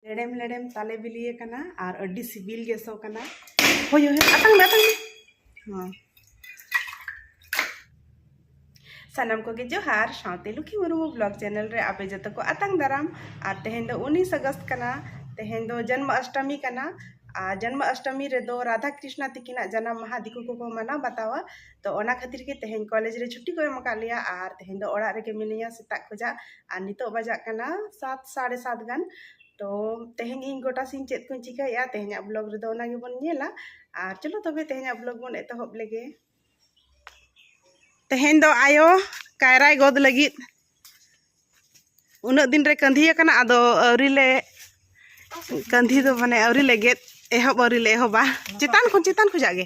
ᱞᱮᱲᱮᱢ ᱞᱮᱲᱮᱢ ᱛᱟᱞᱮ ᱵᱤᱞᱤ ᱟᱠᱟᱱᱟ ᱟᱨ ᱟᱹᱰᱤ ᱥᱤᱵᱤᱞ ᱜᱮ ᱥᱚ ᱠᱟᱱᱟ ᱦᱳᱭ ᱦᱳᱭ ᱟᱛᱟᱝ ᱢᱮ ᱟᱛᱟᱝ ᱢᱮ ᱦᱚᱸ ᱥᱟᱱᱟᱢ ᱠᱚᱜᱮ ᱡᱚᱦᱟᱨ ᱥᱟᱶᱛᱮ ᱞᱩᱠᱷᱤ ᱢᱩᱨᱢᱩ ᱵᱞᱚᱜ ᱪᱮᱱᱮᱞ ᱨᱮ ᱟᱯᱮ ᱡᱚᱛᱚ ᱠᱚ ᱟᱛᱟᱝ ᱫᱟᱨᱟᱢ ᱟᱨ ᱛᱮᱦᱮᱧ ᱫᱚ ᱩᱱᱤᱥ ᱟᱜᱚᱥᱴ ᱠᱟᱱᱟ ᱛᱮᱦᱮᱧ ᱫᱚ ᱡᱚᱱᱢ ᱚᱥᱴᱚᱢᱤ ᱠᱟᱱᱟ ᱟᱨ ᱡᱚᱱᱢ ᱚᱥᱴᱚᱢᱤ ᱨᱮᱫᱚ ᱨᱟᱫᱷᱟ ᱠᱨᱤᱥᱱᱟ ᱛᱤᱠᱤᱱᱟᱜ ᱡᱟᱱᱟᱢ ᱢᱟᱦᱟ ᱫᱤᱠᱩ ᱠᱚᱠᱚ ᱢᱟᱱᱟᱣ ᱵᱟᱛᱟᱣᱟ ᱛᱚ ᱚᱱᱟ ᱠᱷᱟᱹᱛᱤᱨ ᱜᱮ ᱛᱮᱦᱮᱧ ᱠᱚᱞᱮᱡᱽ ᱨᱮ ᱪᱷᱩᱴᱤ ᱠᱚ ᱮᱢ ᱟᱠᱟᱫ ᱞᱮᱭᱟ ᱟᱨ ᱛᱮᱦᱮᱧ ᱫᱚ ᱚᱲᱟᱜ ᱨᱮᱜᱮ ᱢᱤᱱᱟᱹᱧᱟ ᱥᱮᱛᱟᱜ ᱠᱷᱚᱱᱟᱜ ᱟᱨ ᱱᱤᱛᱚᱜ ᱵᱟᱡᱟᱜ ᱠᱟᱱᱟ ᱥᱟᱛ ᱥᱟᱲᱮ ᱥᱟᱛ ᱜᱟᱱ ᱛᱚ ᱛᱮᱦᱮᱧ ᱤᱧ ᱜᱚᱴᱟ ᱥᱤᱧ ᱪᱮᱫ ᱠᱚᱧ ᱪᱤᱠᱟᱹᱭᱮᱫᱼᱟ ᱛᱮᱦᱮᱧᱟᱜ ᱵᱞᱚᱜᱽ ᱨᱮᱫᱚ ᱚᱱᱟ ᱜᱮᱵᱚᱱ ᱧᱮᱞᱟ ᱟᱨ ᱪᱚᱞᱚ ᱛᱚᱵᱮ ᱛᱮᱦᱮᱧᱟᱜ ᱵᱞᱚᱜᱽ ᱵᱚᱱ ᱮᱛᱚᱦᱚᱵ ᱞᱮᱜᱮ ᱛᱮᱦᱮᱧ ᱫᱚ ᱟᱭᱳ ᱠᱟᱭᱨᱟᱭ ᱜᱚᱫ ᱞᱟᱹᱜᱤᱫ ᱩᱱᱟᱹᱜ ᱫᱤᱱ ᱨᱮ ᱠᱟᱹᱸᱫᱷᱤ ᱟᱠᱟᱱᱟ ᱟᱫᱚ ᱟᱹᱣᱨᱤ ᱞᱮ ᱠᱟᱹᱸᱫᱷᱤ ᱫᱚ ᱢᱟᱱᱮ ᱟᱹᱣᱨᱤ ᱞᱮ ᱜᱮᱫ ᱮᱦᱚᱵ ᱟᱹᱣᱨᱤ ᱞᱮ ᱮᱦᱚᱵᱟ ᱪᱮᱛᱟᱱ ᱠᱷᱚᱱ ᱪᱮᱛᱟᱱ ᱠᱷᱚᱱᱟᱜ ᱜᱮ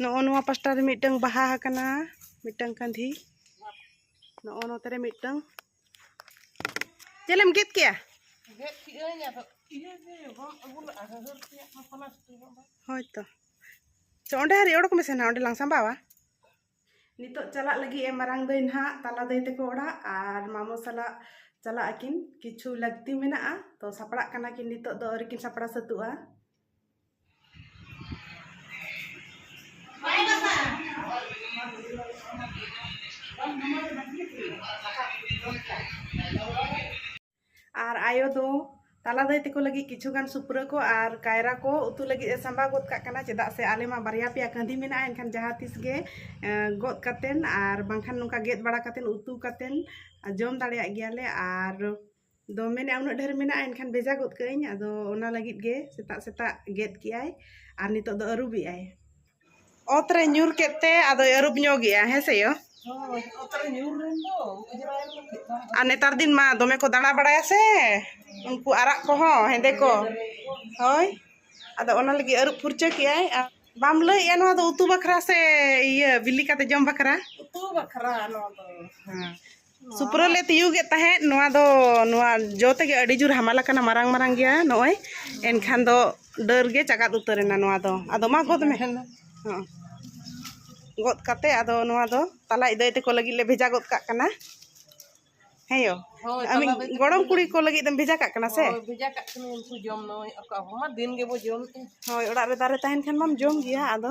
ᱱᱚᱜᱼᱚ ᱱᱚᱣᱟ ᱯᱟᱥᱴᱟ ᱨᱮ ᱢᱤᱫᱴᱟᱝ ᱵᱟᱦᱟ ᱟᱠᱟᱱᱟ ᱢᱤᱫᱴᱟᱝ ᱠᱟᱸᱫᱷᱤ ᱱᱚᱜᱼᱚ ᱱᱚᱛᱮ ᱨᱮ ᱢᱤᱫᱴᱟᱝ ᱪᱮᱫ ᱮᱢ ᱜᱮᱫ ᱠᱮᱜᱼᱟ ᱜᱮᱫ ᱠᱮᱜᱼᱟᱹᱧ ᱟᱫᱚ ᱤᱭᱟᱹ ᱜᱮ ᱵᱟᱢ ᱟᱹᱜᱩ ᱞᱟᱜᱼᱟ ᱦᱟᱹᱦᱟᱹᱨ ᱛᱮᱭᱟᱜ ᱢᱟ ᱯᱞᱟᱥᱴᱤᱠ ᱦᱳᱭ ᱛᱚ ᱪᱚ ᱚᱸᱰᱮ ᱦᱟᱹᱨᱤ ᱚᱰᱚᱠ ᱢᱮᱥᱮ ᱱᱟᱦᱟᱜ ᱚᱸᱰᱮ ᱞᱟᱝ ᱥᱟᱢᱵᱟᱣᱟ ᱱᱤᱛᱚᱜ ᱪᱟᱞᱟᱜ ᱞᱟᱹᱜᱤᱫ ᱮ ᱢᱟᱨᱟᱝ ᱫᱟᱹᱭ ᱱᱟᱦᱟᱜ ᱛᱟᱞᱟ ᱫᱟᱹᱭ ᱛᱮᱠᱚ ᱚᱲᱟᱜ ᱟᱨ ᱢᱟᱢᱚ ᱥᱟᱞᱟᱜ ᱪᱟᱞᱟᱜ ᱟᱹᱠᱤᱱ ᱠᱤᱪᱷᱩ ᱞᱟᱹᱠᱛᱤ ᱢᱮᱱᱟᱜᱼᱟ ᱛᱚ ᱥᱟᱯᱲᱟᱜ ᱠᱟᱱᱟ ᱠᱤᱱ ᱱᱤᱛᱚᱜ ᱫᱚ ᱟᱹᱣᱨᱤ ᱠᱤᱱ ᱥᱟᱯᱲᱟᱣ ᱥᱟᱹᱛᱩᱜᱼᱟ ᱟᱨ ᱟᱭᱳ ᱫᱚ ᱛᱟᱞᱟ ᱫᱟᱹᱭ ᱛᱮᱠᱚ ᱞᱟᱹᱜᱤᱫ ᱠᱤᱪᱷᱩ ᱜᱟᱱ ᱥᱩᱯᱨᱟᱹ ᱠᱚ ᱟᱨ ᱠᱟᱭᱨᱟ ᱠᱚ ᱩᱛᱩ ᱞᱟᱹᱜᱤᱫ ᱮ ᱥᱟᱢᱵᱟᱣ ᱜᱚᱫ ᱠᱟᱜ ᱠᱟᱱᱟ ᱪᱮᱫᱟᱜ ᱥᱮ ᱟᱞᱮ ᱢᱟ ᱵᱟᱨᱭᱟ ᱯᱮᱭᱟ ᱠᱟᱹᱸᱫᱷᱤ ᱢᱮᱱᱟᱜᱼᱟ ᱮᱱᱠᱷᱟᱱ ᱡᱟᱦᱟᱸ ᱛᱤᱥ ᱜᱮ ᱜᱚᱫ ᱠᱟᱛᱮᱱ ᱟᱨ ᱵᱟᱝᱠᱷᱟᱱ ᱱᱚᱝᱠᱟ ᱜᱮᱫ ᱵᱟᱲᱟ ᱠᱟᱛᱮᱱ ᱩᱛᱩ ᱠᱟᱛᱮᱱ ᱡᱚᱢ ᱫᱟᱲᱮᱭᱟᱜ ᱜᱮᱭᱟᱞᱮ ᱟᱨ ᱫᱚ ᱢᱮᱱᱮᱫ ᱩᱱᱟᱹᱜ ᱰᱷᱮᱨ ᱢᱮᱱᱟᱜᱼᱟ ᱮᱱᱠᱷᱟᱱ ᱵᱷᱮᱡᱟ ᱜᱚᱫ ᱠᱟᱜ ᱟᱹᱧ ᱟᱫᱚ ᱚᱱᱟ ᱞᱟᱹᱜᱤᱫ ᱜᱮ ᱥᱮᱛᱟᱜ ᱥᱮᱛᱟᱜ ᱜᱮᱫ ᱠᱮᱜ ᱟᱭ ᱟᱨ ᱱᱤᱛᱚᱜ ᱫᱚ ᱟᱹᱨᱩᱵ ᱮᱜ ᱟᱭ ᱚᱛ ᱨᱮ ᱧᱩᱨ ᱠᱮᱫ ᱛᱮ ᱟᱫᱚᱭ ᱟᱹᱨᱩᱵ ᱧᱚᱜ ᱮᱜᱼᱟ ᱦᱮᱸ ᱥᱮ ᱭᱚ ᱟᱨ ᱱᱮᱛᱟᱨ ᱫᱤᱱ ᱢᱟ ᱫᱚᱢᱮ ᱠᱚ ᱫᱟᱬᱟ ᱵᱟᱲᱟᱭᱟ ᱥᱮ ᱩᱱᱠᱩ ᱟᱨᱟᱜ ᱠᱚᱦᱚᱸ ᱦᱮᱸᱫᱮ ᱠᱚ ᱦᱳᱭ ᱟᱫᱚ ᱚᱱᱟ ᱞᱟᱹᱜᱤᱫ ᱟᱹᱨᱩᱵ ᱯᱷᱩᱨᱪᱟᱹ ᱠᱮᱜ ᱟᱭ ᱵᱟᱢ ᱞᱟᱹᱭᱮᱜᱼᱟ ᱱᱚᱣᱟ ᱫᱚ ᱩᱛᱩ ᱵᱟᱠᱷᱨᱟ ᱥᱮ ᱤᱭᱟᱹ ᱵᱤᱞᱤ ᱠᱟᱛᱮ ᱡᱚᱢ ᱵᱟᱠᱷᱨᱟ ᱩᱛᱩ ᱵᱟᱠᱷᱨᱟ ᱱᱚᱣᱟ ᱫᱚ ᱦᱮᱸ ᱥᱩᱯᱨᱟᱹ ᱞᱮ ᱛᱤᱭᱩᱜᱮᱫ ᱛᱟᱦᱮᱸᱫ ᱱᱚᱣᱟ ᱫᱚ ᱱᱚᱣᱟ ᱡᱚ ᱛᱮᱜᱮ ᱟᱹᱰᱤ ᱡᱳᱨ ᱦᱟᱢᱟᱞ ᱟᱠᱟᱱᱟ ᱢᱟᱨᱟᱝ ᱢᱟᱨᱟᱝ ᱜᱮᱭᱟ ᱱᱚᱜᱼᱚᱭ ᱮᱱᱠᱷᱟᱱ ᱫᱚ ᱰᱟᱹᱨ ᱜᱮ ᱪᱟᱜᱟᱫ ᱩᱛᱟᱹᱨ ᱮᱱᱟ ᱱᱚᱣᱟ ᱫᱚ ᱟᱫᱚ ᱢᱟ ᱜᱚᱫ ᱢᱮ ᱦᱚᱸ ᱜᱚᱫ ᱠᱟᱛᱮ ᱟᱫᱚ ᱱᱚᱣᱟ ᱫᱚ ᱛᱟᱞᱟ ᱤᱫᱟᱹᱭ ᱛᱮᱠᱚ ᱞᱟᱹᱜᱤᱫ ᱞᱮ ᱵᱷᱮᱡᱟ ᱜᱚᱫ ᱠᱟᱜ ᱠᱟᱱᱟ ᱦᱮᱸ ᱭᱳ ᱜᱚᱲᱚᱢ ᱠᱩᱲᱤ ᱠᱚ ᱞᱟᱹᱜᱤᱫ ᱮᱢ ᱵᱷᱮᱡᱟ ᱠᱟᱜ ᱠᱟᱱᱟ ᱥᱮ ᱵᱷᱮᱡᱟ ᱠᱟᱜ ᱠᱟᱱᱟ ᱩᱱᱠᱩ ᱡᱚᱢ ᱱᱚᱜᱼᱚᱭ ᱟᱠᱚ ᱟᱵᱚ ᱢᱟ ᱫᱤᱱ ᱜᱮᱵᱚ ᱡᱚᱢ ᱦᱳᱭ ᱚᱲᱟᱜ ᱨᱮ ᱫᱟᱨᱮ ᱛᱟᱦᱮᱱ ᱠᱷᱟᱱ ᱢᱟᱢ ᱡᱚᱢ ᱜᱮᱭᱟ ᱟᱫᱚ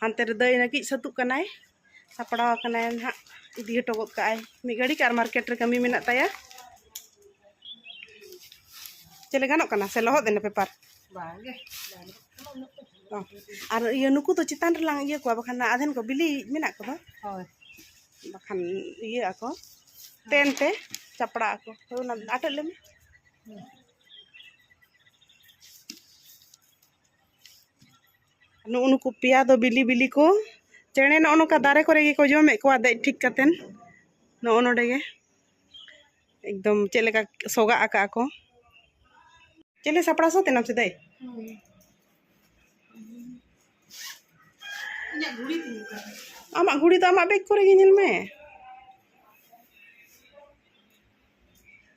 ᱦᱟᱱᱛᱮ ᱨᱮ ᱫᱟᱹᱭ ᱞᱟᱹᱜᱤᱫ ᱥᱟᱹᱛᱩᱜ ᱠᱟᱱᱟᱭ ᱥᱟᱯᱲᱟᱣ ᱟᱠᱟᱱᱟᱭ ᱱᱟᱦᱟᱜ ᱤᱫᱤ ᱦᱚᱴᱚ ᱜᱚᱫ ᱠᱟᱜᱼᱟᱭ ᱢᱤᱫ ᱜᱷᱟᱹᱲᱤᱡ ᱟᱨ ᱢᱟᱨᱠᱮᱴ ᱨᱮ ᱠᱟᱹᱢᱤ ᱢᱮᱱᱟᱜ ᱛᱟᱭᱟ ᱪᱮᱫ ᱜᱟᱱᱚᱜ ᱠᱟᱱᱟ ᱥᱮ ᱞᱚᱦᱚᱫ ᱮᱱᱟ ᱯᱮᱯᱟᱨ ᱵᱟᱝᱜᱮ ᱟᱨ ᱤᱭᱟᱹ ᱱᱩᱠᱩ ᱫᱚ ᱪᱮᱛᱟᱱ ᱨᱮᱞᱟᱝ ᱤᱭᱟᱹ ᱠᱚᱣᱟ ᱵᱟᱠᱷᱟᱱ ᱟᱫᱷᱮᱱ ᱠᱚ ᱵᱤᱞᱤ ᱢᱮᱱᱟᱜ ᱠᱚᱫᱚ ᱦᱳᱭ ᱵᱟᱠᱷᱟᱱ ᱤᱭᱟᱹ ᱟᱠᱚ ᱛᱮᱱ ᱛᱮ ᱪᱟᱯᱲᱟᱜ ᱟᱠᱚ ᱦᱳᱭ ᱚᱱᱟ ᱟᱴᱮᱫ ᱞᱮᱢᱮ ᱱᱩᱜ ᱱᱩᱠᱩ ᱯᱮᱭᱟ ᱫᱚ ᱵᱤᱞᱤ ᱵᱤᱞᱤ ᱠᱚ ᱪᱮᱬᱮ ᱱᱚᱜᱼᱚ ᱱᱚᱝᱠᱟ ᱫᱟᱨᱮ ᱠᱚᱨᱮ ᱜᱮᱠᱚ ᱡᱚᱢᱮᱫ ᱠᱚᱣᱟ ᱫᱮᱡ ᱴᱷᱤᱠ ᱠᱟᱛᱮᱱ ᱱᱚᱜᱼᱚ ᱱᱚᱰᱮ ᱜᱮ ᱮᱠᱫᱚᱢ ᱪᱮᱫ ᱞᱮᱠᱟ ᱥᱚᱜᱟᱜ ᱟᱠᱟᱜ ᱟᱠᱚ ᱪᱮᱞᱮ ᱥᱟᱯᱲᱟᱣ ᱥᱟᱛ ᱮᱱᱟᱢ ᱥᱮ ᱫᱟᱹᱭ ᱟᱢᱟᱜ ᱜᱷᱩᱲᱤ ᱫᱚ ᱟᱢᱟᱜ ᱵᱮᱜᱽ ᱠᱚᱨᱮ ᱜᱮ ᱧᱮᱞ ᱢᱮ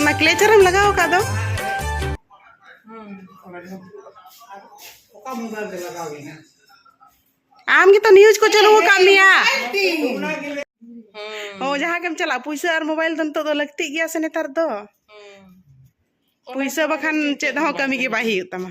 ᱚᱱᱟ ᱠᱞᱮᱪᱟᱨ ᱮᱢ ᱞᱟᱜᱟᱣ ᱟᱠᱟᱫ ᱫᱚ ᱟᱢ ᱜᱮᱛᱚ ᱱᱤᱭᱩᱡ ᱠᱚ ᱪᱟᱹᱞᱩ ᱟᱠᱟᱫ ᱢᱮᱭᱟ ᱦᱚ ᱡᱟᱦᱟᱸ ᱜᱮᱢ ᱪᱟᱞᱟᱜ ᱯᱩᱭᱥᱟᱹ ᱟᱨ ᱢᱳᱵᱟᱭᱤᱞ ᱫᱚ ᱱᱤᱛᱚᱜ ᱫᱚ ᱞᱟᱹᱠᱛᱤᱜ ᱜᱮᱭᱟ ᱥᱮ ᱱᱮᱛᱟᱨ ᱫᱚ ᱯᱩᱭᱥᱟᱹ ᱵᱟᱠᱷᱟᱱ ᱪᱮᱫ ᱦᱚᱸ ᱠᱟᱹᱢᱤ ᱜᱮ ᱵᱟᱭ ᱦᱩᱭᱩᱜ ᱛᱟᱢᱟ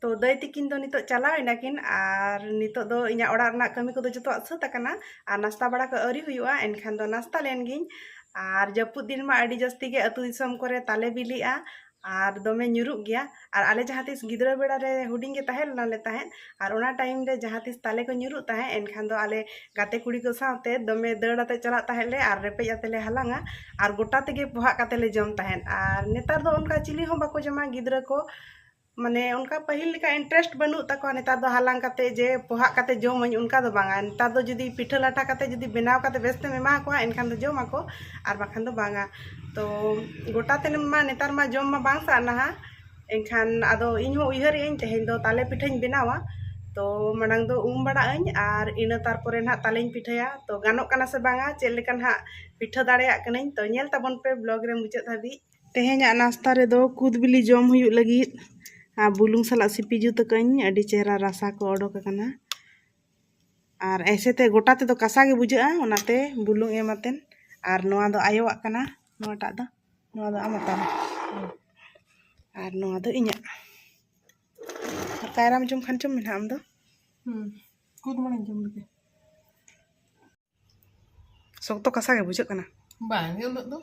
ᱛᱚ ᱫᱟᱹᱭ ᱛᱤᱠᱤᱱ ᱫᱚ ᱱᱤᱛᱚᱜ ᱪᱟᱞᱟᱣ ᱮᱱᱟᱠᱤᱱ ᱟᱨ ᱱᱤᱛᱚᱜ ᱫᱚ ᱤᱧᱟᱹᱜ ᱚᱲᱟᱜ ᱨᱮᱱᱟᱜ ᱠᱟᱹᱢᱤ ᱠᱚᱫᱚ ᱡᱚᱛᱚᱣᱟᱜ ᱥᱟᱹᱛ ᱟᱠᱟᱱᱟ ᱟᱨ ᱱᱟᱥᱛᱟ ᱵᱟᱲᱟ ᱠᱚ ᱟᱹᱣᱨᱤ ᱦᱩᱭᱩᱜᱼᱟ ᱮᱱᱠᱷᱟᱱ ᱫᱚ ᱱᱟᱥᱛᱟ ᱞᱮᱱ ᱜᱤᱧ ᱟᱨ ᱡᱟᱹᱯᱩᱫ ᱫᱤᱱ ᱢᱟ ᱟᱹᱰᱤ ᱡᱟᱹᱥᱛᱤ ᱜᱮ ᱟᱹᱛᱩ ᱫᱤᱥᱚᱢ ᱠᱚᱨᱮ ᱛᱟᱞᱮ ᱵᱤᱞᱤᱜᱼᱟ ᱟᱨ ᱫᱚᱢᱮ ᱧᱩᱨᱩᱜ ᱜᱮᱭᱟ ᱟᱨ ᱟᱞᱮ ᱡᱟᱦᱟᱸ ᱛᱤᱥ ᱜᱤᱫᱽᱨᱟᱹ ᱵᱮᱲᱟ ᱨᱮ ᱦᱩᱰᱤᱧ ᱜᱮ ᱛᱟᱦᱮᱸ ᱞᱮᱱᱟᱞᱮ ᱛᱟᱦᱮᱸᱫ ᱟᱨ ᱚᱱᱟ ᱴᱟᱭᱤᱢ ᱨᱮ ᱡᱟᱦᱟᱸ ᱛᱤᱥ ᱛᱟᱞᱮ ᱠᱚ ᱧᱩᱨᱩᱜ ᱛᱟᱦᱮᱸᱫ ᱮᱱᱠᱷᱟᱱ ᱫᱚ ᱟᱞᱮ ᱜᱟᱛᱮ ᱠᱩᱲᱤ ᱠᱚ ᱥᱟᱶᱛᱮ ᱫᱚᱢᱮ ᱫᱟᱹᱲ ᱟᱛᱮ ᱪᱟᱞᱟᱜ ᱛᱟᱦᱮᱸᱫ ᱞᱮ ᱟᱨ ᱨᱮᱯᱮᱡ ᱟᱛᱮ ᱞᱮ ᱦᱟᱞᱟᱝᱼᱟ ᱟᱨ ᱜᱚᱴᱟ ᱛᱮᱜᱮ ᱯᱚᱦᱟᱜ ᱠᱟᱛᱮ ᱞᱮ ᱡᱚᱢ ᱛᱟᱦᱮᱸᱫ ᱟᱨ ᱱᱮᱛᱟᱨ ᱫᱚ ᱚᱱᱠᱟ ᱪᱤᱞᱤ ᱦᱚᱸ ᱵᱟᱠᱚ ᱡᱚᱢᱟ ᱜᱤᱫᱽᱨᱟᱹ ᱠᱚ ᱢᱟᱱᱮ ᱚᱱᱠᱟ ᱯᱟᱹᱦᱤᱞ ᱞᱮᱠᱟ ᱤᱱᱴᱟᱨᱮᱥᱴ ᱵᱟᱹᱱᱩᱜ ᱛᱟᱠᱚᱣᱟ ᱱᱮᱛᱟᱨ ᱫᱚ ᱦᱟᱞᱟᱝ ᱠᱟᱛᱮ ᱡᱮ ᱯᱚᱦᱟᱜ ᱠᱟᱛᱮ ᱡᱚᱢ ᱟᱹᱧ ᱚᱱᱠᱟ ᱫᱚ ᱵᱟᱝᱟ ᱱᱮᱛᱟᱨ ᱫᱚ ᱡᱩᱫᱤ ᱯᱤᱴᱷᱟᱹ ᱞᱟᱴᱷᱟ ᱠᱟᱛᱮ ᱡᱩᱫᱤ ᱵᱮᱱᱟᱣ ᱠᱟᱛᱮ ᱵᱮᱥ ᱛᱮᱢ ᱮᱢᱟ ᱠᱚᱣᱟ ᱮᱱᱠᱷᱟᱱ ᱫᱚ ᱡᱚᱢ ᱟᱠᱚ ᱟᱨ ᱵᱟᱠᱷᱟᱱ ᱫᱚ ᱵᱟᱝᱟ ᱛᱚ ᱜᱚᱴᱟ ᱛᱮᱢᱟ ᱱᱮᱛᱟᱨ ᱢᱟ ᱡᱚᱢ ᱢᱟ ᱵᱟᱝ ᱥᱟᱜᱱᱟᱣᱟ ᱮᱱᱠᱷᱟᱱ ᱟᱫᱚ ᱤᱧ ᱦᱚᱸ ᱩᱭᱦᱟᱹᱨ ᱮᱫᱟᱹᱧ ᱛᱮᱦᱮᱧ ᱫᱚ ᱛᱟᱞᱮ ᱯᱤᱴᱷᱟᱹᱧ ᱵᱮᱱᱟᱣᱟ ᱛᱚ ᱢᱟᱲᱟᱝ ᱫᱚ ᱩᱢ ᱵᱟᱲᱟᱜ ᱟᱹᱧ ᱟᱨ ᱤᱱᱟᱹ ᱛᱟᱨᱯᱚᱨᱮ ᱱᱟᱜ ᱛᱟᱞᱮᱧ ᱯᱤᱴᱷᱟᱹᱭᱟ ᱛᱚ ᱜᱟᱱᱚᱜ ᱠᱟᱱᱟ ᱥᱮ ᱵᱟᱝᱟ ᱪᱮᱫ ᱞᱮᱠᱟ ᱱᱟᱜ ᱯᱤᱴᱷᱟᱹ ᱫᱟᱲᱮᱭᱟᱜ ᱠᱟᱹᱱᱟᱹᱧ ᱛᱚ ᱧᱮᱞ ᱛᱟᱵᱚᱱ ᱯᱮ ᱵᱞᱚᱜᱽ ᱨᱮ ᱢᱩᱪᱟᱹᱫ ᱫᱷᱟᱹᱵᱤᱡ ᱛᱮᱦᱮᱧᱟᱜ ᱱᱟᱥᱛᱟ ᱨᱮᱫᱚ ᱠᱩᱫ ᱵᱤᱞᱤ ᱡᱚᱢ ᱦᱩᱭᱩᱜ ᱞᱟᱹᱜᱤᱫ ᱟᱨ ᱵᱩᱞᱩᱝ ᱥᱟᱞᱟᱜ ᱥᱤᱯᱤ ᱡᱩᱛ ᱟᱠᱟᱫᱟᱹᱧ ᱟᱹᱰᱤ ᱪᱮᱦᱨᱟ ᱨᱟᱥᱟ ᱠᱚ ᱚᱰᱚᱠ ᱟᱠᱟᱱᱟ ᱟᱨ ᱮᱭᱥᱮ ᱛᱮ ᱜᱚᱴᱟ ᱛᱮᱫᱚ ᱠᱟᱥᱟ ᱜᱮ ᱵᱩᱡᱷᱟᱹᱜᱼᱟ ᱚᱱᱟᱛᱮ ᱵᱩᱞᱩᱝ ᱮᱢ ᱟᱛᱮᱱ ᱟᱨ ᱱᱚᱣᱟ ᱫᱚ ᱟᱭᱳᱣᱟᱜ ᱠᱟᱱᱟ ᱱᱚᱣᱟᱴᱟᱜ ᱫᱚ ᱱᱚᱣᱟ ᱫᱚ ᱟᱢᱟᱜ ᱛᱟᱢ ᱟᱨ ᱱᱚᱣᱟ ᱫᱚ ᱤᱧᱟᱹᱜ ᱟᱨ ᱠᱟᱭᱨᱟᱢ ᱡᱚᱢ ᱠᱷᱟᱱ ᱪᱚᱢ ᱢᱮᱱᱟ ᱟᱢ ᱫᱚ ᱦᱩᱸ ᱠᱩᱫ ᱢᱟᱱᱮᱧ ᱡᱚᱢ ᱞᱮᱜᱮ ᱥᱚᱠᱛᱚ ᱠᱟᱥᱟ ᱜᱮ ᱵᱩᱡᱷᱟᱹᱜ ᱠᱟᱱᱟ ᱵᱟᱝ ᱜᱮ ᱩᱱᱟᱹᱜ ᱫᱚ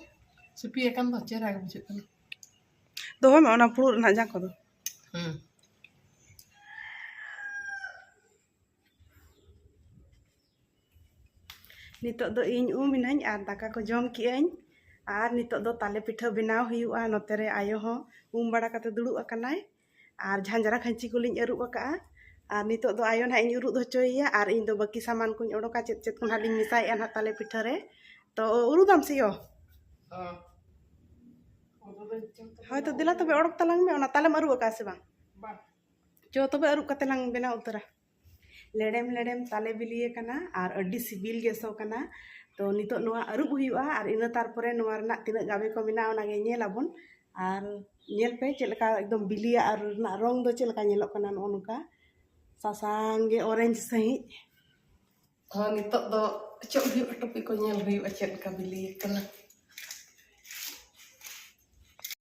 ᱥᱤᱯᱤ ᱟᱠᱟᱱ ᱫᱚ ᱪᱮᱦᱨᱟ ᱜᱮ ᱵᱩᱡᱷᱟᱹᱜ ᱠᱟᱱᱟ ᱫᱚᱦᱚᱭ ᱢᱮ ᱚᱱᱟ ᱯᱷᱩᱲᱩᱜ ᱨᱮᱱᱟᱜ ᱡᱟᱝ ᱠᱚᱫᱚ ᱦᱮᱸ ᱱᱤᱛᱚᱜ ᱫᱚ ᱤᱧ ᱩᱢ ᱤᱱᱟᱹᱧ ᱟᱨ ᱫᱟᱠᱟ ᱠᱚ ᱡᱚᱢ ᱠᱮᱜᱼᱟᱹᱧ ᱟᱨ ᱱᱤᱛᱚᱜ ᱫᱚ ᱛᱟᱞᱮ ᱯᱤᱴᱷᱟᱹ ᱵᱮᱱᱟᱣ ᱦᱩᱭᱩᱜᱼᱟ ᱱᱚᱛᱮ ᱨᱮ ᱟᱭᱳ ᱦᱚᱸ ᱩᱢ ᱵᱟᱲᱟ ᱠᱟᱛᱮ ᱫᱩᱲᱩᱵ ᱟᱠᱟᱱᱟᱭ ᱟᱨ ᱡᱷᱟᱸᱡᱽᱨᱟ ᱠᱷᱟᱹᱧᱪᱤ ᱠᱚᱞᱤᱧ ᱟᱹᱨᱩᱵ ᱟᱠᱟᱫᱼᱟ ᱟᱨ ᱱᱤᱛᱚᱜ ᱫᱚ ᱟᱭᱳ ᱱᱟᱦᱟᱜ ᱤᱧ ᱩᱨᱩᱫ ᱦᱚᱪᱚᱭᱮᱭᱟ ᱟᱨ ᱤᱧ ᱫᱚ ᱵᱟᱹᱠᱤ ᱥᱟᱢᱟᱱ ᱠᱚᱧ ᱚᱰᱚᱠᱟ ᱪᱮᱫ ᱪᱮᱫ ᱠᱚ ᱱᱟᱦᱟᱜ ᱞᱤᱧ ᱢᱮᱥᱟᱭᱮᱫᱼᱟ ᱱᱟᱦᱟᱜ ᱛᱟᱞᱮ ᱯᱤᱴᱷᱟᱹ ᱨᱮ ᱛᱚ ᱩᱨᱩᱫᱟᱢ ᱥᱮ ᱭᱳ ᱦᱳᱭ ᱛᱚ ᱫᱮᱞᱟ ᱛᱚᱵᱮ ᱚᱰᱚᱠ ᱛᱟᱞᱟᱝ ᱢᱮ ᱚᱱᱟ ᱛᱟᱞᱮᱢ ᱟᱹᱨᱩᱵ ᱟᱠᱟᱫᱼᱟ ᱥᱮ ᱵᱟᱝ ᱪᱚ ᱛᱚᱵᱮ ᱟᱹᱨᱩᱵ ᱠᱟᱛᱮ ᱞᱟᱝ ᱵᱮᱱᱟᱣ ᱩᱛᱟᱹᱨᱟ ᱞᱮᱲᱮᱢ ᱞᱮᱲᱮᱢ ᱛᱟᱞᱮ ᱵᱤᱞᱤ ᱟᱠᱟᱱᱟ ᱟᱨ ᱟᱹᱰᱤ ᱥᱤᱵᱤᱞ ᱜᱮ ᱥᱚ ᱠᱟᱱᱟ ᱛᱚ ᱱᱤᱛᱚᱜ ᱱᱚᱣᱟ ᱟᱹᱨᱩᱵ ᱦᱩᱭᱩᱜᱼᱟ ᱟᱨ ᱤᱱᱟᱹ ᱛᱟᱨᱯᱚᱨᱮ ᱱᱚᱣᱟ ᱨᱮᱱᱟᱜ ᱛᱤᱱᱟᱹᱜ ᱜᱟᱵᱮ ᱠᱚ ᱢᱮᱱᱟᱜᱼᱟ ᱚᱱᱟᱜᱮ ᱧᱮᱞ ᱟᱵᱚᱱ ᱟᱨ ᱧᱮᱞ ᱯᱮ ᱪᱮᱫ ᱞᱮᱠᱟ ᱮᱠᱫᱚᱢ ᱵᱤᱞᱤᱭᱟᱜ ᱟᱨ ᱨᱮᱱᱟᱜ ᱨᱚᱝ ᱫᱚ ᱪᱮᱫ ᱞᱮᱠᱟ ᱧᱮᱞᱚᱜ ᱠᱟᱱᱟ ᱱᱚᱜᱼᱚ ᱱᱚᱝᱠᱟ ᱥᱟᱥᱟᱝ ᱜᱮ ᱚᱨᱮᱧᱡᱽ ᱥᱟᱺᱦᱤᱡ ᱛᱚ ᱱᱤᱛᱚᱜ ᱫᱚ ᱚᱪᱚᱜ ᱦᱩᱭᱩᱜᱼᱟ ᱴᱩᱯᱤ ᱠᱚ ᱧᱮᱞ ᱦᱩᱭᱩᱜᱼᱟ ᱪᱮᱫ ᱞᱮᱠᱟ ᱵᱤᱞᱤ ᱟᱠᱟᱱᱟ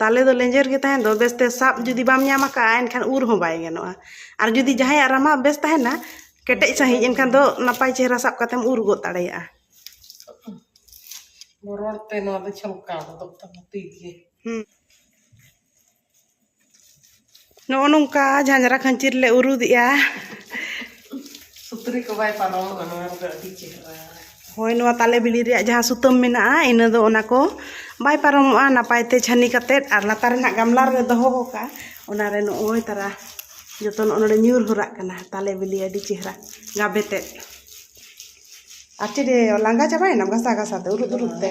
ᱛᱟᱞᱮ ᱫᱚ ᱞᱮᱸᱡᱮᱨ ᱜᱮ ᱛᱟᱦᱮᱱ ᱫᱚ ᱵᱮᱥᱛᱮ ᱥᱟᱵ ᱡᱩᱫᱤ ᱵᱟᱢ ᱧᱟᱢ ᱟᱠᱟᱫᱼᱟ ᱮᱱᱠᱷᱟᱱ ᱩᱨ ᱦᱚᱸ ᱵᱟᱭ ᱜᱟᱱᱚᱜᱼᱟ ᱟᱨ ᱡᱩᱫᱤ ᱡᱟᱦᱟᱸᱭᱟᱜ ᱨᱟᱢᱟ ᱵᱮᱥ ᱛᱟᱦᱮᱱᱟ ᱠᱮᱴᱮᱡ ᱥᱟᱺᱦᱤᱡ ᱮᱱᱠᱷᱟᱱ ᱫᱚ ᱱᱟᱯᱟᱭ ᱪᱮᱦᱨᱟ ᱥᱟᱵ ᱠᱟᱛᱮᱢ ᱩᱨ ᱜᱚᱫ ᱫᱟᱲᱮᱭᱟᱜᱼᱟ ᱨᱚᱲᱛᱮ ᱱᱚᱣᱟ ᱫᱚ ᱪᱷᱚᱞᱠᱟᱣ ᱜᱚᱫᱚᱜ ᱛᱟᱢᱟ ᱛᱤ ᱜᱮ ᱱᱚᱜᱼᱚ ᱱᱚᱝᱠᱟ ᱡᱷᱟᱸᱡᱽᱨᱟ ᱠᱷᱟᱹᱧᱪᱤ ᱨᱮᱞᱮ ᱩᱨᱩᱫᱮᱜᱼᱟ ᱥᱩᱛᱨᱤ ᱠᱚ ᱵᱟᱭ ᱯᱟᱨᱚᱢᱚᱜᱼᱟ ᱱᱚᱣᱟ ᱨᱮᱫᱚ ᱟᱹᱰᱤ ᱪᱮᱦᱨᱟ ᱦᱳᱭ ᱱᱚᱣᱟ ᱛᱟᱞᱮ ᱵᱤᱞᱤ ᱨᱮᱭᱟᱜ ᱡᱟᱦᱟᱸ ᱥᱩᱛᱟᱹᱢ ᱢᱮᱱᱟᱜᱼᱟ ᱤᱱᱟᱹ ᱫᱚ ᱚᱱᱟ ᱠᱚ ᱵᱟᱭ ᱯᱟᱨᱚᱢᱚᱜᱼᱟ ᱱᱟᱯᱟᱭ ᱛᱮ ᱪᱷᱟᱹᱱᱤ ᱠᱟᱛᱮ ᱟᱨ ᱞᱟᱛᱟᱨ ᱨᱮᱱᱟᱜ ᱜᱟᱢᱞᱟ ᱨᱮᱞᱮ ᱫᱚᱦᱚ ᱠᱟᱜᱼᱟ ᱚᱱᱟ ᱨᱮ ᱱᱚᱜᱼᱚᱭ ᱛᱟᱨᱟ ᱡᱚᱛᱚ ᱱᱚᱜᱼᱚ ᱱᱚᱰᱮ ᱧᱩᱨ ᱦᱚᱨᱟᱜ ᱠᱟᱱᱟ ᱛᱟᱞᱮ ᱵᱤᱞᱤ ᱟᱹᱰᱤ ᱪᱮᱦᱨᱟ ᱜᱟᱵᱮ ᱛᱮ ᱟᱨ ᱪᱮᱫ ᱞᱟᱸᱜᱟ ᱪᱟᱵᱟᱭᱮᱱᱟᱢ ᱜᱷᱟᱥᱟᱣ ᱜᱷᱟᱥᱟᱣ ᱛᱮ ᱩᱨᱩᱫ ᱩᱨᱩᱫ ᱛᱮ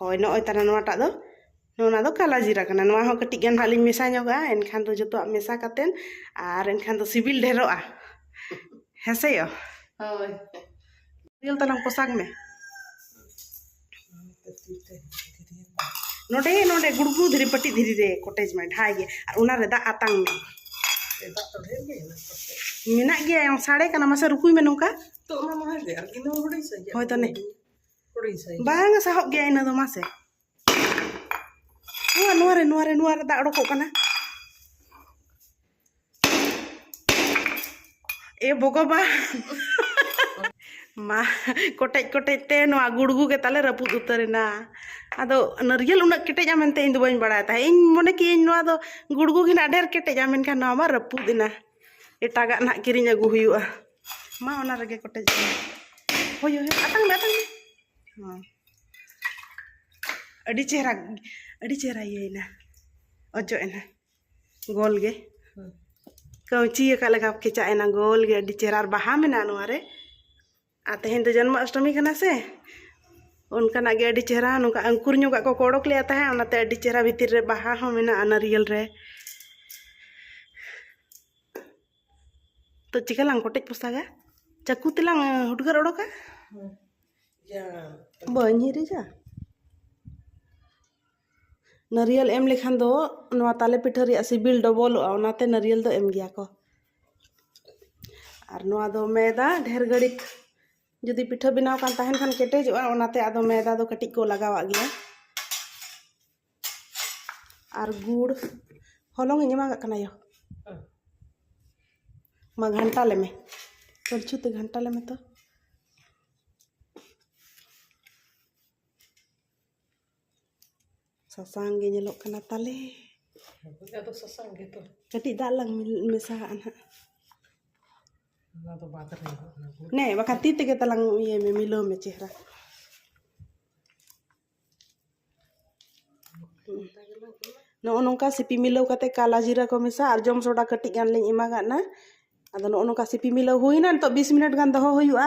ᱦᱳᱭ ᱱᱚᱜᱼᱚᱭ ᱛᱟᱦᱚᱞᱮ ᱱᱚᱣᱟᱴᱟᱜ ᱫᱚ ᱱᱚᱣᱟ ᱫᱚ ᱠᱟᱞᱟ ᱡᱤᱨᱟ ᱠᱟᱱᱟ ᱱᱚᱣᱟ ᱦᱚᱸ ᱠᱟᱹᱴᱤᱡ ᱜᱟᱱ ᱦᱟᱸᱜ ᱞᱤᱧ ᱢᱮᱥᱟ ᱧᱚᱜᱟ ᱮᱱᱠᱷᱟᱱ ᱫᱚ ᱡᱚᱛᱚᱣᱟᱜ ᱢᱮᱥᱟ ᱠᱟᱛᱮᱫ ᱟᱨ ᱮᱱᱠᱷᱟᱱ ᱫᱚ ᱥᱤᱵᱤᱞ ᱰᱷᱮᱨᱚᱜᱼᱟ ᱦᱮᱸᱥᱮ ᱭᱚ ᱦᱳᱭ ᱛᱮᱞ ᱛᱟᱞᱟᱝ ᱯᱚᱥᱟᱜᱽ ᱢᱮ ᱱᱚᱰᱮ ᱱᱚᱰᱮ ᱜᱩᱲᱜᱩ ᱫᱷᱤᱨᱤ ᱯᱟᱹᱴᱤ ᱫᱷᱤᱨᱤ ᱨᱮ ᱠᱚᱴᱮᱡᱽ ᱢᱮ ᱰᱷᱟᱭ ᱜᱮ ᱟᱨ ᱚᱱᱟ ᱨᱮ ᱫᱟᱜ ᱟᱛᱟᱝ ᱢᱮ ᱢᱮᱱᱟᱜ ᱜᱮᱭᱟ ᱥᱟᱲᱮ ᱠᱟᱱᱟ ᱢᱟᱥᱮ ᱨᱩᱠᱩᱭ ᱢᱮ ᱱᱚᱝᱠᱟ ᱦᱳᱭ ᱛᱟᱱᱮ ᱵᱟᱝᱟ ᱥᱟᱦᱚᱵ ᱜᱮᱭᱟ ᱤᱱᱟᱹ ᱫᱚ ᱢᱟᱥᱮ ᱱᱚᱣᱟ ᱱᱚᱣᱟ ᱨᱮ ᱱᱚᱣᱟ ᱨᱮ ᱱᱚᱣᱟ ᱨᱮ ᱫᱟᱜ ᱚᱰᱚᱠᱚᱜ ᱠᱟᱱᱟ ᱮ ᱵᱚᱜᱚᱵᱟ ᱢᱟ ᱠᱚᱴᱮᱡ ᱠᱚᱴᱮᱡ ᱛᱮ ᱱᱚᱣᱟ ᱜᱩᱲᱜᱩ ᱜᱮ ᱛᱟᱞᱮ ᱨᱟᱹᱯᱩᱫ ᱩᱛᱟᱹᱨᱮᱱᱟ ᱟᱫᱚ ᱱᱟᱹᱨᱤᱭᱮᱞ ᱩᱱᱟᱹᱜ ᱠᱮᱴᱮᱡᱟ ᱢᱮᱱᱛᱮ ᱤᱧ ᱫᱚ ᱵᱟᱹᱧ ᱵᱟᱲᱟᱭ ᱛᱟᱦᱮᱸᱫ ᱤᱧ ᱢᱚᱱᱮ ᱠᱮᱜ ᱤᱧ ᱱᱚᱣᱟ ᱫᱚ ᱜᱩᱲᱜᱩ ᱜᱮ ᱱᱟᱜ ᱰᱷᱮᱨ ᱠᱮᱴᱮᱡᱟ ᱢᱮᱱᱠᱷᱟᱱ ᱱᱚᱣᱟ ᱢᱟ ᱨᱟᱹᱯᱩᱫ ᱮᱱᱟ ᱮᱴᱟᱜᱟᱜ ᱱᱟᱜ ᱠᱤᱨᱤᱧ ᱟᱹᱜᱩ ᱦᱩᱭᱩᱜᱼᱟ ᱢᱟ ᱚᱱᱟ ᱨᱮᱜᱮ ᱠᱚᱴᱮᱡ ᱦᱳᱭ ᱦᱳᱭ ᱟᱛᱟᱝ ᱢᱮ ᱟᱛᱟᱝ ᱢᱮ ᱦᱚᱸ ᱟᱹᱰᱤ ᱪᱮᱦᱨᱟ ᱟᱹᱰᱤ ᱪᱮᱦᱨᱟ ᱤᱭᱟᱹᱭᱮᱱᱟ ᱚᱡᱚᱜ ᱮᱱᱟ ᱜᱳᱞ ᱜᱮ ᱠᱟᱹᱣᱪᱤ ᱟᱠᱟᱫ ᱞᱮᱠᱟ ᱠᱮᱪᱟᱜ ᱮᱱᱟ ᱜᱳᱞ ᱜᱮ ᱟᱹᱰᱤ ᱪᱮᱦᱨᱟ ᱟᱨ ᱵᱟᱦᱟ ᱢᱮᱱᱟᱜᱼᱟ ᱱᱚᱣᱟ ᱨᱮ ᱟᱨ ᱛᱮᱦᱮᱧ ᱫᱚ ᱡᱚᱱᱢᱚ ᱚᱥᱴᱚᱢᱤ ᱠᱟᱱᱟ ᱥᱮ ᱚᱱᱠᱟᱱᱟᱜ ᱜᱮ ᱟᱹᱰᱤ ᱪᱮᱦᱨᱟ ᱱᱚᱝᱠᱟ ᱟᱝᱠᱩᱨ ᱧᱚᱜᱟᱜ ᱠᱚ ᱚᱰᱚᱠ ᱞᱮᱫᱼᱟ ᱛᱟᱦᱮᱸᱫ ᱚᱱᱟᱛᱮ ᱟᱹᱰᱤ ᱪᱮᱦᱨᱟ ᱵᱷᱤᱛᱤᱨ ᱨᱮ ᱵᱟᱦᱟ ᱦᱚᱸ ᱢᱮᱱᱟᱜᱼᱟ ᱱᱟᱹᱨᱤᱭᱮᱞ ᱨᱮ ᱛᱚ ᱪᱤᱠᱟᱹ ᱞᱟᱝ ᱠᱚᱴᱮᱡ ᱯᱚᱥᱟᱜᱟ ᱪᱟᱹᱠᱩ ᱛᱮᱞᱟᱝ ᱦᱩᱴᱜᱟᱹᱨ ᱚᱰᱚᱠᱟ ᱵᱟᱹᱧ ᱦᱤᱨᱤᱡᱟ ᱱᱟᱹᱨᱤᱭᱟᱹᱞ ᱮᱢ ᱞᱮᱠᱷᱟᱱ ᱫᱚ ᱱᱚᱣᱟ ᱛᱟᱞᱮ ᱯᱤᱴᱷᱟᱹ ᱨᱮᱭᱟᱜ ᱥᱤᱵᱤᱞ ᱰᱚᱵᱚᱞᱚᱜᱼᱟ ᱚᱱᱟᱛᱮ ᱱᱟᱹᱨᱤᱭᱟᱹᱞ ᱫᱚ ᱮᱢ ᱜᱮᱭᱟ ᱠᱚ ᱟᱨ ᱱᱚᱣᱟ ᱫᱚ ᱢᱮᱫᱟ ᱰᱷᱮᱨ ᱜᱷᱟᱹᱲᱤᱡ ᱡᱩᱫᱤ ᱯᱤᱴᱷᱟᱹ ᱵᱮᱱᱟᱣ ᱠᱟᱱ ᱛᱟᱦᱮᱱ ᱠᱷᱟᱱ ᱠᱮᱴᱮᱡᱚᱜᱼᱟ ᱚᱱᱟᱛᱮ ᱟᱫᱚ ᱢᱮᱫᱟ ᱫᱚ ᱠᱟᱹᱴᱤᱡ ᱠᱚ ᱞᱟᱜᱟᱣᱟᱜ ᱜᱮᱭᱟ ᱟᱨ ᱜᱩᱲ ᱦᱚᱞᱚᱝ ᱤᱧ ᱮᱢᱟᱜᱟᱜ ᱠᱟᱱᱟ ᱭᱳ ᱢᱟ ᱜᱷᱟᱱᱴᱟ ᱞᱮᱢᱮ ᱠᱚᱲᱪᱩ ᱛᱮ ᱜᱷᱟᱱᱴᱟ ᱞᱮᱢᱮ ᱛᱚ ᱥᱟᱥᱟᱝ ᱜᱮ ᱧᱮᱞᱚᱜ ᱠᱟᱱᱟ ᱛᱟᱞᱮ ᱟᱫᱚ ᱥᱟᱥᱟᱝ ᱜᱮ ᱛᱚ ᱠᱟᱹᱴᱤᱡ ᱫᱟᱜ ᱞᱟᱝ ᱢᱮᱥᱟᱦᱟᱜᱼᱟ ᱱᱟᱦᱟᱜ ᱚᱱᱟ ᱫᱚ ᱵᱟᱫ ᱨᱮ ᱱᱮ ᱵᱟᱠᱷᱟᱱ ᱛᱤ ᱛᱮᱜᱮ ᱛᱟᱞᱟᱝ ᱤᱭᱟᱹᱭ ᱢᱮ ᱢᱤᱞᱟᱹᱣ ᱢᱮ ᱪᱮᱦᱨᱟ ᱱᱚᱜᱼᱚ ᱱᱚᱝᱠᱟ ᱥᱤᱯᱤ ᱢᱤᱞᱟᱹᱣ ᱠᱟᱛᱮ ᱠᱟᱞᱟ ᱡᱤᱨᱟᱹ ᱠᱚ ᱢᱮᱥᱟ ᱟᱨ ᱡᱚᱢ ᱥᱚᱰᱟ ᱠᱟᱹᱴᱤᱡ ᱜᱟᱱ ᱞᱤᱧ ᱮᱢᱟ ᱜᱟᱫᱱᱟ ᱟᱫᱚ ᱱᱚᱜᱼᱚ ᱱᱚᱝᱠᱟ ᱥᱤᱯᱤ ᱢᱤᱞᱟᱹᱣ ᱦᱩᱭᱱᱟ ᱱᱤᱛᱳᱜ ᱵᱤᱥ ᱢᱤᱱᱤᱴ ᱜᱟᱱ ᱫᱚᱦᱚ ᱦᱩᱭᱩᱜᱼᱟ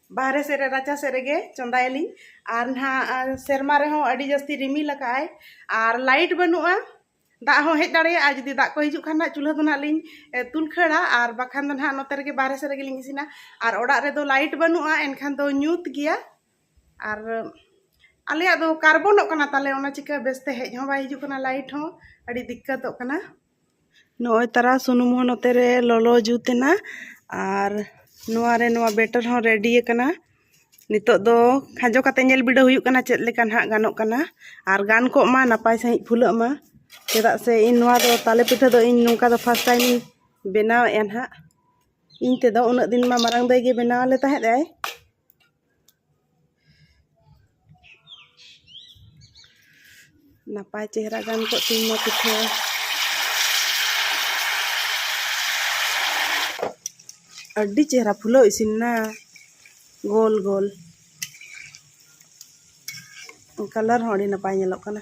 ᱵᱟᱦᱨᱮ ᱥᱮᱫ ᱨᱮ ᱨᱟᱪᱟ ᱥᱮᱫ ᱨᱮᱜᱮ ᱪᱚᱸᱫᱟᱭᱟᱞᱤᱧ ᱟᱨ ᱱᱟᱦᱟᱜ ᱥᱮᱨᱢᱟ ᱨᱮᱦᱚᱸ ᱟᱹᱰᱤ ᱡᱟᱹᱥᱛᱤ ᱨᱤᱢᱤᱞ ᱟᱠᱟᱫ ᱟᱭ ᱟᱨ ᱞᱟᱭᱤᱴ ᱵᱟᱹᱱᱩᱜᱼᱟ ᱫᱟᱜ ᱦᱚᱸ ᱦᱮᱡ ᱫᱟᱲᱮᱭᱟᱜᱼᱟ ᱡᱩᱫᱤ ᱫᱟᱜ ᱠᱚ ᱦᱤᱡᱩᱜ ᱠᱷᱟᱱ ᱱᱟᱦᱟᱜ ᱪᱩᱞᱦᱟᱹ ᱫᱚ ᱱᱟᱦᱟᱜ ᱞᱤᱧ ᱛᱩᱞ ᱠᱷᱟᱹᱲᱟ ᱟᱨ ᱵᱟᱠᱷᱟᱱ ᱫᱚ ᱱᱟᱦᱟᱜ ᱱᱚᱛᱮ ᱨᱮᱜᱮ ᱵᱟᱦᱨᱮ ᱥᱮᱫ ᱨᱮᱜᱮᱞᱤᱧ ᱤᱥᱤᱱᱟ ᱟᱨ ᱚᱲᱟᱜ ᱨᱮᱫᱚ ᱞᱟᱭᱤᱴ ᱵᱟᱹᱱᱩᱜᱼᱟ ᱮᱱᱠᱷᱟᱱ ᱫᱚ ᱧᱩᱛ ᱜᱮᱭᱟ ᱟᱨ ᱟᱞᱮᱭᱟᱜ ᱫᱚ ᱠᱟᱨᱵᱚᱱᱚᱜ ᱠᱟᱱᱟ ᱛᱟᱞᱮ ᱚᱱᱟ ᱪᱤᱠᱟᱹ ᱵᱮᱥᱛᱮ ᱦᱮᱡ ᱦᱚᱸ ᱵᱟᱭ ᱦᱤᱡᱩᱜ ᱠᱟᱱᱟ ᱞᱟᱭᱤᱴ ᱦᱚᱸ ᱟᱹᱰᱤ ᱫᱤᱠᱠᱟᱛᱚᱜ ᱠᱟᱱᱟ ᱱᱚᱜᱼᱚᱭ ᱛᱟᱨᱟ ᱥᱩᱱᱩᱢ ᱦᱚᱸ ᱱᱚᱛᱮ ᱨᱮ ᱞᱚᱞᱚ ᱡᱩᱛ ᱮᱱᱟ ᱟᱨ ᱱᱚᱣᱟ ᱨᱮ ᱱᱚᱣᱟ ᱵᱮᱴᱟᱨ ᱦᱚᱸ ᱨᱮᱰᱤ ᱟᱠᱟᱱᱟ ᱱᱤᱛᱚᱜ ᱫᱚ ᱠᱷᱟᱸᱡᱚ ᱠᱟᱛᱮ ᱧᱮᱞ ᱵᱤᱰᱟᱹᱣ ᱦᱩᱭᱩᱜ ᱠᱟᱱᱟ ᱪᱮᱫ ᱞᱮᱠᱟ ᱱᱟᱦᱟᱜ ᱜᱟᱱᱚᱜ ᱠᱟᱱᱟ ᱟᱨ ᱜᱟᱱ ᱠᱚᱜ ᱢᱟ ᱱᱟᱯᱟᱭ ᱥᱟᱺᱦᱤᱡ ᱯᱷᱩᱞᱟᱹᱜ ᱢᱟ ᱪᱮᱫᱟᱜ ᱥᱮ ᱤᱧ ᱱᱚᱣᱟ ᱫᱚ ᱛᱟᱞᱮ ᱯᱤᱴᱷᱟᱹ ᱫᱚ ᱤᱧ ᱱᱚᱝᱠᱟ ᱫᱚ ᱯᱷᱟᱥᱴ ᱴᱟᱭᱤᱢ ᱤᱧ ᱵᱮᱱᱟᱣᱮᱫᱼᱟ ᱱᱟᱦᱟᱜ ᱤᱧ ᱛᱮᱫᱚ ᱩᱱᱟᱹᱜ ᱫᱤᱱ ᱢᱟ ᱢᱟᱨᱟᱝ ᱫᱟᱹᱭ ᱜᱮ ᱵᱮᱱᱟᱣ ᱟᱞᱮ ᱛᱟᱦᱮᱸᱫ ᱮ ᱱᱟᱯᱟᱭ ᱪᱮᱦᱨᱟ ᱜᱟᱱ ᱠᱚᱜ ᱛᱤᱧ ᱢᱟ ᱯᱤᱴᱷᱟᱹ ᱟᱹᱰᱤ ᱪᱮᱦᱨᱟ ᱯᱷᱩᱞᱟᱹᱣ ᱤᱥᱤᱱ ᱮᱱᱟ ᱜᱳᱞ ᱜᱳᱞ ᱠᱟᱞᱟᱨ ᱦᱚᱸ ᱟᱹᱰᱤ ᱱᱟᱯᱟᱭ ᱧᱮᱞᱚᱜ ᱠᱟᱱᱟ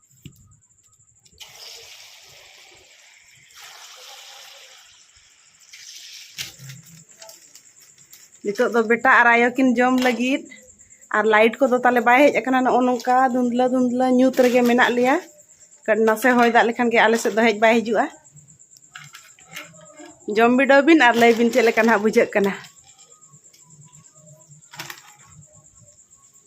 ᱱᱤᱛᱚᱜ ᱫᱚ ᱵᱮᱴᱟ ᱟᱨ ᱟᱭᱳ ᱠᱤᱱ ᱡᱚᱢ ᱞᱟᱹᱜᱤᱫ ᱟᱨ ᱞᱟᱭᱤᱴ ᱠᱚᱫᱚ ᱛᱟᱞᱮ ᱵᱟᱭ ᱦᱮᱡ ᱟᱠᱟᱱᱟ ᱱᱚᱜᱼᱚ ᱱᱚᱝᱠᱟ ᱫᱷᱩᱸᱫᱽᱞᱟᱹ ᱫᱷᱩᱸᱫᱽᱞᱟᱹ ᱧᱩᱛ ᱨᱮᱜᱮ ᱢᱮᱱᱟᱜ ᱞᱮᱭᱟ ᱱᱟᱥᱮ ᱦᱚᱭ ᱫᱟᱜ ᱞᱮᱠᱷᱟᱱ ᱜᱮ ᱟᱞᱮ ᱥᱮᱫ ᱫᱚ ᱦᱮᱡ ᱵᱟᱭ ᱦᱤᱡᱩᱜᱼᱟ ᱡᱚᱢ ᱵᱤᱰᱟᱹᱣ ᱵᱤᱱ ᱟᱨ ᱞᱟᱹᱭ ᱵᱤᱱ ᱪᱮᱫ ᱞᱮᱠᱟ ᱱᱟᱦᱟᱜ ᱵᱩᱡᱷᱟᱹᱜ ᱠᱟᱱᱟ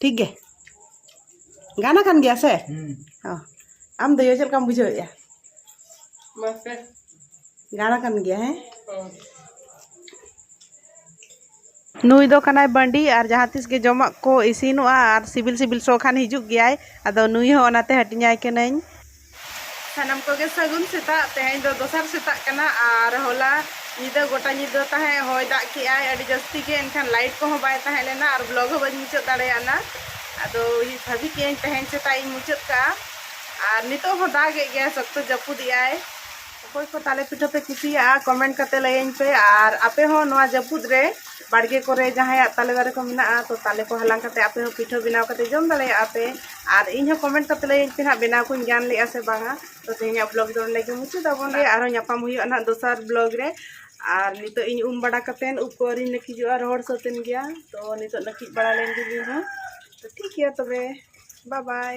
ᱴᱷᱤᱠ ᱜᱮ ᱜᱟᱱ ᱟᱠᱟᱱ ᱜᱮᱭᱟ ᱥᱮ ᱟᱢ ᱫᱚ ᱪᱮᱫ ᱞᱮᱠᱟᱢ ᱵᱩᱡᱷᱟᱹᱣᱮᱫᱼᱟ ᱜᱟᱱ ᱟᱠᱟᱱ ᱜᱮᱭᱟ ᱦᱮᱸ ᱱᱩᱭ ᱫᱚ ᱠᱟᱱᱟᱭ ᱵᱟᱺᱰᱤ ᱟᱨ ᱡᱟᱦᱟᱸ ᱛᱤᱥ ᱜᱮ ᱡᱚᱢᱟᱜ ᱠᱚ ᱤᱥᱤᱱᱚᱜᱼᱟ ᱟᱨ ᱥᱤᱵᱤᱞ ᱥᱤᱵᱤᱞ ᱥᱚ ᱠᱷᱟᱱ ᱦᱤᱡᱩᱜ ᱜᱮᱭᱟᱭ ᱟᱫᱚ ᱱᱩᱭ ᱦᱚᱸ ᱚᱱᱟᱛᱮ ᱦᱟᱹᱴᱤᱧᱟᱭ ᱠᱟᱹᱱᱟᱹᱧ ᱥᱟᱱᱟᱢ ᱠᱚᱜᱮ ᱥᱟᱹᱜᱩᱱ ᱥᱮᱛᱟᱜ ᱛᱮᱦᱮᱧ ᱫᱚ ᱫᱚᱥᱟᱨ ᱥᱮᱛᱟᱜ ᱠᱟᱱᱟ ᱟᱨ ᱦᱚᱞᱟ ᱧᱤᱫᱟᱹ ᱜᱚᱴᱟ ᱧᱤᱫᱟᱹ ᱛᱟᱦᱮᱸ ᱦᱚᱭ ᱫᱟᱜ ᱠᱮᱜᱼᱟᱭ ᱟᱹᱰᱤ ᱡᱟᱹᱥᱛᱤ ᱜᱮ ᱮᱱᱠᱷᱟᱱ ᱞᱟᱭᱤᱴ ᱠᱚᱦᱚᱸ ᱵᱟᱭ ᱛᱟᱦᱮᱸ ᱞᱮᱱᱟ ᱟᱨ ᱵᱞᱚᱜ ᱦᱚᱸ ᱵᱟᱹᱧ ᱢᱩᱪᱟᱹᱫ ᱫᱟᱲᱮᱭᱟᱜᱼᱟ ᱟᱫᱚ ᱵᱷᱟᱹᱵᱤ ᱠᱮᱜᱼᱟᱹᱧ ᱛᱮᱦᱮᱧ ᱥᱮᱛᱟᱜ ᱤᱧ ᱢᱩᱪᱟᱹᱫ ᱠᱟᱜᱼᱟ ᱟᱨ ᱱᱤᱛᱚᱜ ᱦᱚᱸ ᱫᱟᱜ ᱮᱫ ᱜᱮᱭᱟᱭ ᱥᱚᱠᱛᱚ ᱡᱟᱹᱯᱩᱫ ᱮᱜᱼᱟᱭ ᱚᱠᱚᱭ ᱠᱚ ᱛᱟᱞᱮ ᱯᱤᱴᱷᱟᱹ ᱯᱮ ᱠᱩᱥᱤᱭᱟᱜᱼᱟ ᱠᱚᱢᱮᱱᱴ ᱠᱟᱛᱮ ᱞᱟᱹᱭᱟᱹᱧ ᱯᱮ ᱟᱨ ᱟᱯᱮ ᱦᱚᱸ ᱱᱚᱣᱟ ᱡᱟᱹᱯᱩᱫ ᱨᱮ ᱵᱟᱲᱜᱮ ᱠᱚᱨᱮ ᱡᱟᱦᱟᱸᱭᱟᱜ ᱛᱟᱞᱮ ᱫᱟᱨᱮ ᱠᱚ ᱢᱮᱱᱟᱜᱼᱟ ᱛᱚ ᱛᱟᱞᱮ ᱠᱚ ᱦᱟᱞᱟᱝ ᱠᱟᱛᱮ ᱟᱯᱮ ᱦᱚᱸ ᱯᱤᱴᱷᱟᱹ ᱵᱮᱱᱟᱣ ᱠᱟᱛᱮ ᱡᱚᱢ ᱫᱟᱲᱮᱭᱟᱜᱼᱟ ᱯᱮ ᱟᱨ ᱤᱧ ᱦᱚᱸ ᱠᱚᱢᱮᱱᱴ ᱠᱟᱛᱮ ᱞᱟᱹᱭᱟᱹᱧ ᱯᱮ ᱦᱟᱸᱜ ᱵᱮᱱᱟᱣ ᱠᱚᱧ ᱜᱟᱱ ᱞᱮᱜᱼᱟ ᱥᱮ ᱵᱟᱝᱟ ᱛᱚ ᱛᱮᱦᱮᱧᱟᱜ ᱵᱞᱚᱜᱽ ᱫᱚ ᱱᱚᱰᱮ ᱜᱮ ᱢᱩᱪᱟᱹᱫ ᱟᱵᱚᱱ ᱜᱮ ᱟᱨᱦᱚᱸ ᱧᱟᱯᱟᱢ ᱦᱩᱭᱩᱜᱼᱟ ᱱᱟᱦᱟᱜ ᱫᱚᱥᱟᱨ ᱵᱞᱚᱜᱽ ᱨᱮ ᱟᱨ ᱱᱤᱛᱚᱜ ᱤᱧ ᱩᱢ ᱵᱟᱲᱟ ᱠᱟᱛᱮ ᱩᱵ ᱠᱚ ᱟᱹᱣᱨᱤᱧ ᱱᱟᱹᱠᱤᱡᱚᱜᱼᱟ ᱨᱚᱦᱚᱲ ᱥᱟᱹᱛᱮᱱ ᱜᱮᱭᱟ ᱛᱚ ᱱᱤᱛᱚᱜ ᱱᱟᱹᱠᱤᱡ ᱵᱟᱲᱟ ᱞᱮᱱ ᱜᱮ ᱤᱧ ᱦᱚᱸ ᱛᱚ ᱴᱷᱤᱠ ᱜᱮᱭᱟ ᱛᱚᱵᱮ ᱵᱟᱭ ᱵᱟᱭ